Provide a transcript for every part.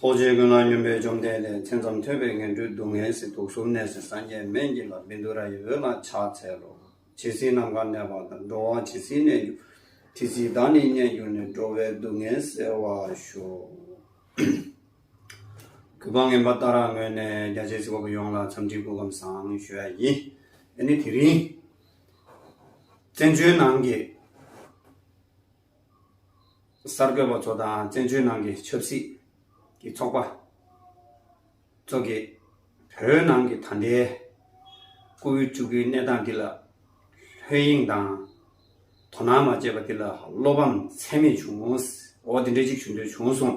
རྡོ་རྗེ་ཀུན་སྣང་སྙོམས་པའི་བཅོམ་ལྡན་འདས་མཚན་ཙམ་ཐོས་པས་ངན་འགྲོའི་སྡུག་བསྔལ་སེལ་དུག་གསུམ་ནད་སེལ་སངས་རྒྱས་སྨན་གྱི་ལྷ་བིནྡུ་ར་ཡི་འོད་སྣང་ཕྱག་འཚལ་ལོ། ཇི་སྲིད་ནམ་མཁའ་གནས་པ་དང་འགྲོ་བ་ཇི་སྲིད་གནས་འགྱུར། དེ་སྲིད་བདག་ནི་མཉེས་གྱུར་ནས་འགྲོ་བའི་སྡུག་བསྔལ་སེལ་བར་ཤོག། གུས་པ་ངན་པ་ལྟ་རག་ངོས་ནས་རྒྱ་ཆེ་སྲིད་པ་པོ་ཡོངས་ལ་འཚམས་འདྲི་སྐུ་ཁམས་བཟང་ཞུ་ཡ་ཡི། ཨ་ནི་དེ་རིང་བཙན་བྱོལ་ནང་གི། གསར་འགོད་པ་ཚོ་དང་བཙན་བྱོལ་ནང་གི་ཆབ་སྲིད་ཀྱི་ཚོགས་པ་ཚོ་གིས་བོད་ནང་གི་ད་ལྟའི་ལྐུགས་འོད་བཅུག་གི་གནས་སྟངས་འདི་ལ་ལྷོད་གཡེང་དང་དོ་སྣང་མ་བྱས་པ་འདི་ལ་བློ་ཕམ་ཚད་མེད་བྱུང། འོ་དེ་འདྲ་གཅིག་བྱུང་དོན་བྱུང་སོང།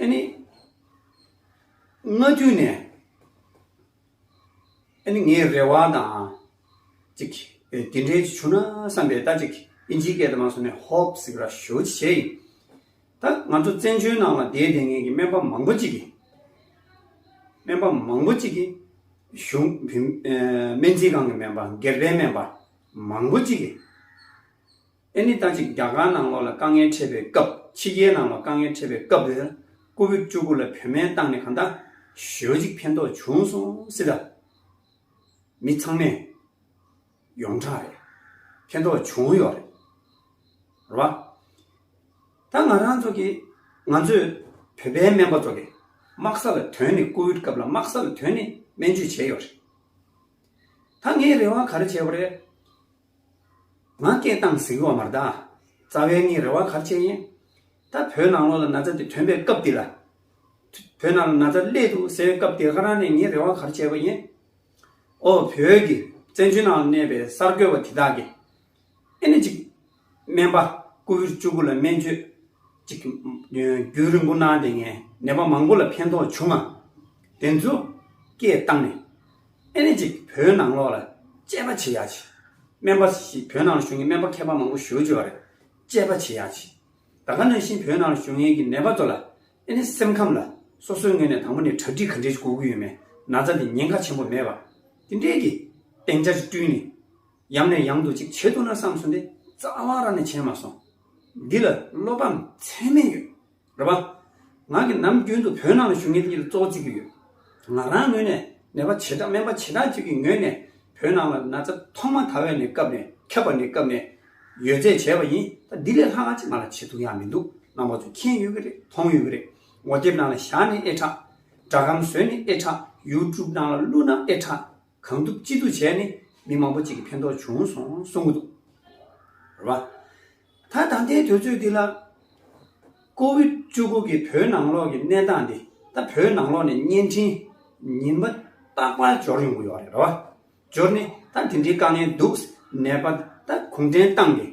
ཨཱ་ནི། སྔ་དུས་ནས་ཨཱ་ནི་ངའི་རེ་བ་དང་ཅིག་དེ་འདྲའི་ཅིག་བྱུང་ན་བསམ་པའི་ལྟ་ཅིག་ཨིན་ཇིའི་སྐད་དུ་མ་སོང་ནས་ཧོབ་ཟིག་ར་ཞོ་ཅིག་བྱས་ཡིན། ད་ང་ཚོ་བཙན་བྱོལ་ནང་ལ་དེའི་དེ་ངེས་ཀྱི་སྨན་པ་མང་པོ་ཅིག་གིས། སྨན་པ་མང་པོ་ཅིག་གིས་གཞུང་བུ་སྨན་རྩིས་ཁང་གི་སྨན་པ་སྒེར་པའི་སྨན་པ་མང་པོ་ཅིག་གིས། ཨེ་ནི་ལྟ་ཅིག་རྒྱ་གར་ནང་ལོགས་ལ་དཀའ་ངལ་འཕྲད་པའི་སྐབས་ཕྱི་རྒྱལ་ནང་ལོགས་དཀའ་ངལ་འཕྲད་པའི་སྐབས་དེར་ཀོ་བིད་བཅུ་དགུ་ལ་བོད་སྨན་བཏང་ནས་གང་ལྟ་ཞོལ་ཅིག་ཕན་ཐོགས་བྱུང་སོང་སྲིད་ལ། མི་ཚང་མས་ཡོངས་གྲགས་རེད། ཕན་ཐོགས་བྱུང་ཡོད་རེད། རེད་བ། ད་ང་རང་ཚོ་གིས་ང་ཚོས་བོད་པའི་སྨན་པ་ཚོ་གིས་དམག་ས་ལ་དོན་ནི་ཀོ་བིད་སྐབས་ལ་དམག་ས་ལ་དོན་ནི་སྨན་བཅོས་བྱས་ཡོད་རེད། ད་ངས་རེ་བ་ག་རེ་བྱས་པ་རེད། ང་སྐད་གཏམ་ཟིག་ལོག་མར་གདའ། རྩ་བའི་ངའི་རེ་བ་གར་ཆད་ཡིན། ད་བོད་ནང་ལོག་ལ་ན་ཚ་འདི་ཐོན་པའི་སྐབས་འདི་ལ། བོད་ནང་ལ་ན་ཚ་སླེད་འདུག་ཟེར་བའི་སྐབས་འདི་ཁ་རང་ནས་ངའི་རེ་བ་གར་ཆད་པ་ཡིན། ཨོ་བོད་ཀྱི་བཙན་བྱོལ་ནང་ལ་གནས་པའི་གསར་འགོད་པ་དེ་དག་གིས། ཨེ་ནི་ཅིག། སྨན་པ་སྐུ་བཞི་བཅུ་དགུ་ལ་སྨན་བཅོས། ཅིག། རྒྱུན་རིང་པོ་གནང་སྟེ་ངའི་ནད་པ་མང་པོ་ལ་ཕན་ཐོགས་བྱུང་ང། དེ་ཚོ་སྐད་བཏང་ནས། ཨེ་རེད་ཅིག་བོད་ནང་ལོག་ལ་དཔྱད་པ་བྱེད་ཡག་ཅིག་སྨན་པ་ཞིག་བོད་ནང་ལ་བཞུགས་མཁན་སྨན་པ་མཁས་པ་མང་པོ་ཞོལ་བྱོས་བ་རེད་དཔྱད་པ་བྱེད་ཡག་ཅིག་ད་ག་ནང་བཞིན་བོད་ནང་ལ་བཞུགས་མཁན་གྱི་ནད་པ་ཚོ་ལ་ཨེ་ནི་སེམས་ཁམས་ལ་སོ་སོའི་ངོས་ནས་དང་པོ་ནས་གྲ་སྒྲིག་ག་འདྲས་ཅིག་དགོས་ཀྱི་ཡོད་མེད་ན་ཚ་འདི་ཉེན་ཁ་ཆེན་པོ་མེད་པ་དེ་འདྲས་ཀྱི་སྟེང་ཆ་ཅིག་བསྐྲུན་ནས་ཡང་ནས་ཡང་དུ་ཅིག་བྱེད་ཐུབ་ན་བསམ་སོང་དེ་རྩ་བ་ར་ནས་བྱས་མ་སོང་འདི་ལ་བློ་ཕམ་ཚད་མེད་ཡོད། རེད་པ། ང་གིས་ནམ་རྒྱུན་དུ་བོད་ནང་ལ་ཞུ་སྙན་གྱི་གཙོ་བོ་བྱེད་ཀྱི་ཡོད། ང་རང་ངོས་ནས་ནད་པ་བྱེ་བྲག་སྨན་པ་བྱེ་བྲག་ཅིག་གི་ངོས་ནས་བོད་ནང་ལ་ན་ཚ་ཐོག་མ་དར་བའི་ནས་སྐབས་ནས་ཁྱབ་པ་ནས་སྐབས་ནས་ཡོད་ཚད་བྱས་པ་ཡིན་ད་འདི་ལས་ལྷག་ཅིག་ང་ལ་བྱེད་ཐུབ་ཡག་མི་འདུག་རྣམ་པ་ཚོ་མཁྱེན་ཡོད་ཀྱི་རེད་མཐོང་ཡོད་ཀྱི་རེད་ངོ་དེབ་ནང་ལ་བཞག་ནས་ཨེ་དྲག། སྒྲ་སྒམ་བཟོས་ནས་ཨེ་དྲག YouTube ནང་ལ་བླུགས་ན་ཨེ་དྲག། གང་ཐུབ་ཅི་ཐུབ་བྱས་ནས་མི་མང་པོ་གཅིག་གི་ཕན་ཐོགས་བྱུང་སོང་གསུང་གི་འདུག་རེད་བ། ད་ད་ལྟའི་དུས་ཚོད་འདི་ལ། ཀོ་བིད་བཅུ་དགུ་གིས་བོད་ནང་ལོགས་ཀྱི་གནས་སྟངས་འདི་ད་བོད་ནང་ལོགས་ནས་བརྙན་འཕྲིན་ཉིན་པ་རྟག་པར་འབྱོར་ཡོང་གི་ཡོད་རེད་བ། འབྱོར་ནས་ད་དེ་འདྲའི་དཀའ་ངལ་འདུག་ནས་པ་ད་གུང་ཁྲན་ཏང་གིས།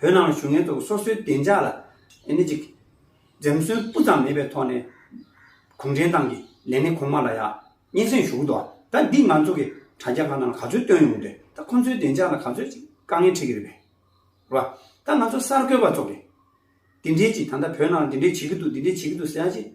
བོད་ནང་ལ་བཞུགས་མཁན་ཚོ་སོ་སོའི་བདེ་འཇགས་ལ་ཨེ་ནས་ཅིག་འཛེམ་ཟོན་སྤུ་ཙམ་མེད་པའི་ཐོག་ནས་གུང་ཁྲན་ཏང་གི་ལས་སྣེ་ཁོང་མ་ལ་ཡང་སྙན་སེང་ཞུ་གི་འདུག་ད་འདི་ང་ཚོ་གི་དྲ་རྒྱ་ཁག་ནང་ལ་ག་ཚོད་བཏོན་ཡོང་དུས་ད་ཁོང་ཚོའི་བདེ་འཇགས་ལ་ག་ཚོད་ཅིག་དཀའ་ངལ་འཕྲད་ཀྱི་རེད་པས་རེད་པ། ད་ང་ཚོ་གསར་འགོད་པ་ཚོ་གིས་འདི་འདྲའི་ཅིག་ད་ལྟ་བོད་ནང་ལ་འདི་འདྲའི་བྱེད་ཀྱི་འདུག་འདི་འདྲའི་བྱེད་ཀྱི་འདུག་ཟེར་ཡག་ཅིག་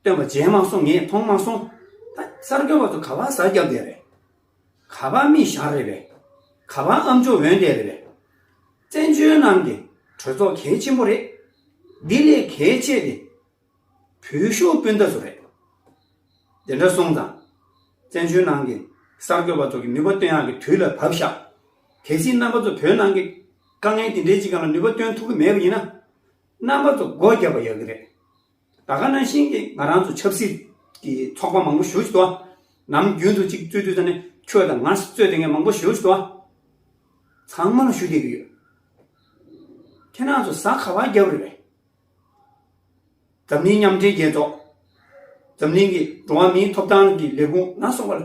བཏོན་པ་མཇལ་མ་སོང་ངས་མཐོང་མ་སོང། ད་གསར་འགོད་པ་ཚོ་ག་པར་གཟབ་རྒྱབ་བསྡད་རེད། ག་པ་རྨིས་ཞང་རེད་པས། ག་པ་ཨམ་ཅོ་འོན་ཏེ་རེད་པས། བཙན་བྱོལ་ནང་གི་གྲོས་ཚོགས་གལ་ཆེན་པོ་རེད། དེ་ལས་གལ་ཆེ་དེ། བོད་ཤོག་སྤུན་ཟླ་ཚོ་རེད། དེ་འདྲ་སོང་ཙང། བཙན་བྱོལ་ནང་གི་གསར་འགོད་པ་ཚོ་གི་ནུས་པ་བཏོན་ཡག་གི་དུས་ལ་བབས་ཤག། གལ་སྲིད་རྣམ་པ་ཚོ་བོད་ནང་གི་དཀའ་ངལ་དེ་འདྲའི་ཅིག་ག་ལ་ནུས་པ་བཏོན་ཐུབ་གི་མེད་པ་ཡིན་ན། རྣམ་པ་ཚོ་སྒོ་རྒྱབ་པ་ཡག་གི་རེད། ད་ག་ནང་བཞིན་གྱི་ང་རང་ཚོ་ཆབ་སྲིད་ཀྱི་ཚོགས་པ་མང་པོ་ཞུགས་ཏོ། ནམ་རྒྱུན་དུ་ཅིག་རྩོད་དུས་ད་ནི་ཁྱོད་དང་ང་རྩོད་དེ་ངས་མང་པོ་ཞུས་ཏོ། ཚང་མ་ལ་ཞུ་བསྡད་ཀྱི་ཡོད། ཁྱེད་རང་ཚོ་ཟ་ཁ་བ་རྒྱབ་རེ་རེད། འཛམ་གླིང་མཉམ་འབྲེལ་རྒྱལ་ཚོགས། འཛམ་གླིང་གི་འགྲོ་བ་མིའི་ཐོབ་ཐང་གི་ལས་ཁུངས་ནང་སོང་བ་ལ་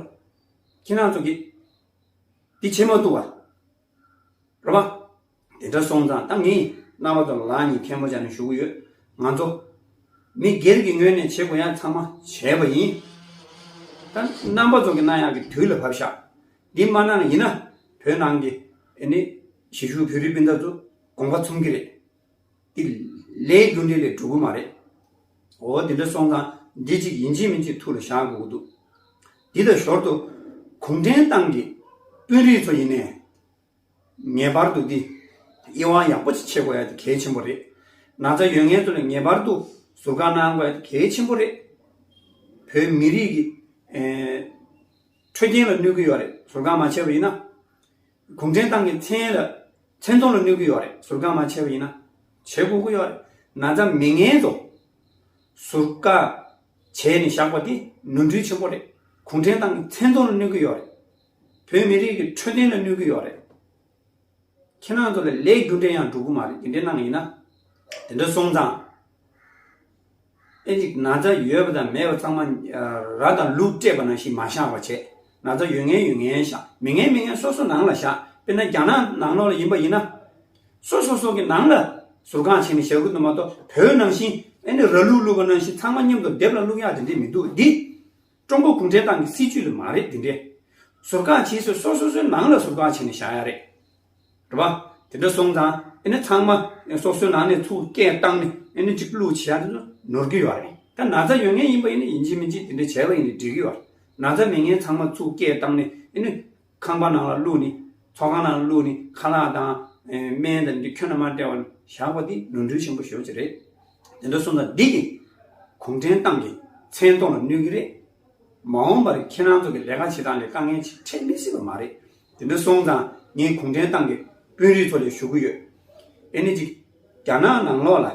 ཁྱེད་རང་ཚོ་གིས་འདི་བྱེད་མ་ཐུབ་བ་རེད། དེ་འདྲ་སོང་ཙང་ད་ངས་རྣ་བ་དང་ལག་གཉིས་མཁན་པོ་བྱ་ནས་བཞུགས་ཡོད། ང་ཚོ། མི་སྒེར་གྱི་ངོས་ནས་བྱེད་དགོས་ཡ་ཚང་མ་བྱས་པ་ཡིན། ད་རྣམ་པ་ཚོ་གི་རྣ་ཡག་གི་དུས་ལ་བབས་ཤག་འདི་མ་གནང་ཡིན་ན་བོད་ནང་གི་ནི་གཞིས་བཞུགས་བོད་རིགས་སྤུན་ཟླ་ཚོ་དགོངས་པ་ཚུམ་གི་རེད། དེ་ལས་རྒྱུ་འབྲས་ལས་གྲུབ་གི་མ་རེད། འོ་དེ་འདྲ་སོང་ཙང་འདི་གཅིག་ཡིན་གཅིག་མིན་གཅིག་ཐུགས་ལ་བཞག་དགོས་ཀྱི་འདུག། འདི་དང་ཞོར་དུ་གུང་ཁྲན་ཏང་གི་དཔོན་རིགས་ཚོ་ཡིན་ནའི། ངེས་པར་དུ་འདི། དབྱེ་བ་ཡག་པོ་ཅིག་ཕྱེ་དགོས་ཡ་དེ་གལ་ཆེན་པོ་རེད། ན་ཚ་ཡོད་ངེས་ཚོ་ལ་ངེས་པར་དུ་ཟུར་བཀག་གནང་དགོས་ཡ་དེ་གལ་ཆེན་པོ་རེད། བོད་མི་རིགས་ཀྱི། འཕྲོད་བསྟེན་ལ་གནོད་གི་ཡོད་རེད་ཟུར་བཀག་མ་བྱས་པ་ཡིན་ན། གུང་ཁྲན་ཏང་གི་མཚན་ལ་མཚན་མཐོང་ལ་གནོད་གི་ཡོད་རེད་ཟུར་བཀག་མ་བྱས་པ་ཡིན་ན། བྱེད་དགོས་ཀི་ཡོད་རེད་ན་ཚ་མི་ངན་ཚོ། ཟུར་བཀག་བྱས་ནས་བཞག་པ་དེ་ནོར་འཁྲུལ་ཆེན་པོ་རེད་གུང་ཁྲན་ཏང་གི་མཚན་མཐོང་ལ་གནོད་གི་ཡོད་རེད། བོད་མི་རིགས་ཀྱི་འཕྲོད་བསྟེན་ལ་གནོད་གི་ཡོད་རེད། ཁྱེད་རང་ཚོ་ལ་ལས་རྒྱུ་འབྲས་ཡང་འགྲུབ་གི་མ་རེད་དེ་འདྲས་གནང་གི་ཡིན་ན། དེ་འདྲ་སོང་ཙང། དཔེ་གཅིག་ན་ཚ་ཡོད་པ་དང་མེད་པ་ཚང་མ་ར་དང་ལུག་སྤྲད་པ་ནང་བཞིན་མ་བཞག་པ་བྱས། ན་ཚ་ཡོད་ངན་ཡོད་ངན་བཞག་མི་ངན་མི་ངན་སོ་སོ་ནང་ལ་བཞག་དཔེར་ན་རྒྱ་ནག་ནང་ལོག་ལ་ཡིན་པ་ཡིན་ན། སོ་སོ་སོ་གི་ནང་ལ་ཟུར་ཁང་བྱས་ནས་བཞག་གི་འདུག་མ་གཏོགས་བོད་ནང་བཞིན་ཨེ་ནས་ར་ལུག་བླུགས་པ་ནང་བཞིན་ཚང་མ་མཉམ་དུ་སྡེབ་ལ་བླུགས་ཡག་དེ་འདྲས་མི་འདུག་འདི། ཀྲུང་གོ་གུང་ཁྲན་ཏང་གི་སྲིད་ཇུས་ལ་མ་རེད་འདི་འདྲའི། ཟུར་བཀག་བྱེད་སྲོལ་སོ་སོ་སོའི་ནང་ལ་ཟུར་བཀག་བྱས་ནས་བཞག་ཡ་རེད། རེད་པ། དེ་འདྲ་སོང་ཙང་ཨེ་ནི་ཚང་མ་སོ་སོའི་ནང་ནས་ཚུར་སྐད་བཏང་ནས་ཨེ་ནི་འགྲིག་ལུགས་བྱེད་ཡ་འདི་ཚོ་ནོར་གི་ཡོད་རེད། ད་ན་ཚ་ཡོད་ངེས་ཡིན་པ་ཨེ་ནི་ཡིན་གཅིག་མིན་གཅིག་འདི་འདྲ་བྱས་པ་ཡིན་ནི་འགྲིག་གི་ཡོད། ན་ཚ་མེད་ངེས་ཚང་མ་ཚུར་སྐད་བཏང་ནས་ཨེ་ནི། ཁང་པ་ནང་ལ་བླུགས་ནས་ཚོགས་ཁང་ནང་ལ་བླུགས་ནས་ཁ་ལག་དང། སྨན་དང་འདི་ཁྱོད་རྣམས་མར་སྤྲད་བ་བཞག་པ་འདི་ནོར་འཁྲུལ་ཆེན་པོ་ཞོག་ཅིག་རེད། དེ་འདྲ་སོང་ད་འདི་གི་གུང་ཁྲན་ཏང་གི་མཚན་མཐོང་ལ་གནོད་ཀྱི་རེད། མ་འོངས་པར་ཁྱེད་རང་ཚོ་གི་ལས་ཀ་བྱེད་སྟངས་ལས་དཀའ་ངལ་ཆེ་འཕྲད་མི་སྲིད་པ་མ་རེད། དེ་འདྲ་སོང་ཙང་ངས་གུང་ཁྲན་ཏང་གི་དཔོན་རིགས་ཚོ་ལས་ཞུ་གི་ཡོད། དེ་ནི་གཅིག་རྒྱ་ནག་ནང་ལོགས་ལ་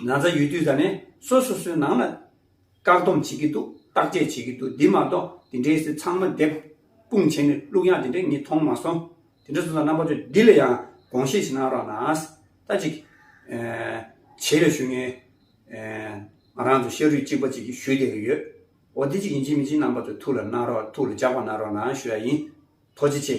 ན་ཚ་ཡོད་དུས་ད་ནས་སོ་སོ་སོའི་ནང་ལ་བཀག་སྡོམ་བྱེད་ཀྱི་འདུག་བརྟག་དཔྱད་བྱེད་ཀྱི་འདུག་འདི་མ་གཏོགས་དེ་འདྲའི་སི་ཚང་མ་དེབ་སྤུངས་བྱས་ནས་བླུགས་ཡག་དེ་འདྲའི་ངས་མཐོང་མ་སོང། དེ་འདྲ་སོང་ཙང་རྣམ་པ་ཚོས་འདི་ལ་ཡང་དགོངས་བཞེས་བྱེད་གནང་རོགས་གནང། ད་ཅིག། བྱས་པའི་ཞུ་སྙན། ང་རང་ཚོ་ཤ་རུས་གཅིག་པ་གཅིག་གིས་ཞུས་བསྡད་ཀྱི་ཡོད། འོ་དེ་ཅིག་ཡིན་ཅིག་མིན་ཅིག་རྣམ་པ་ཚོས་ཐུགས་ལ་གནང་རོགས་ཐུགས་ལ་འཇགས་པ་གནང་རོགས་གནང་ཞུ་ཡག་ཡིན། ཐོག་ཅི་ཆེ།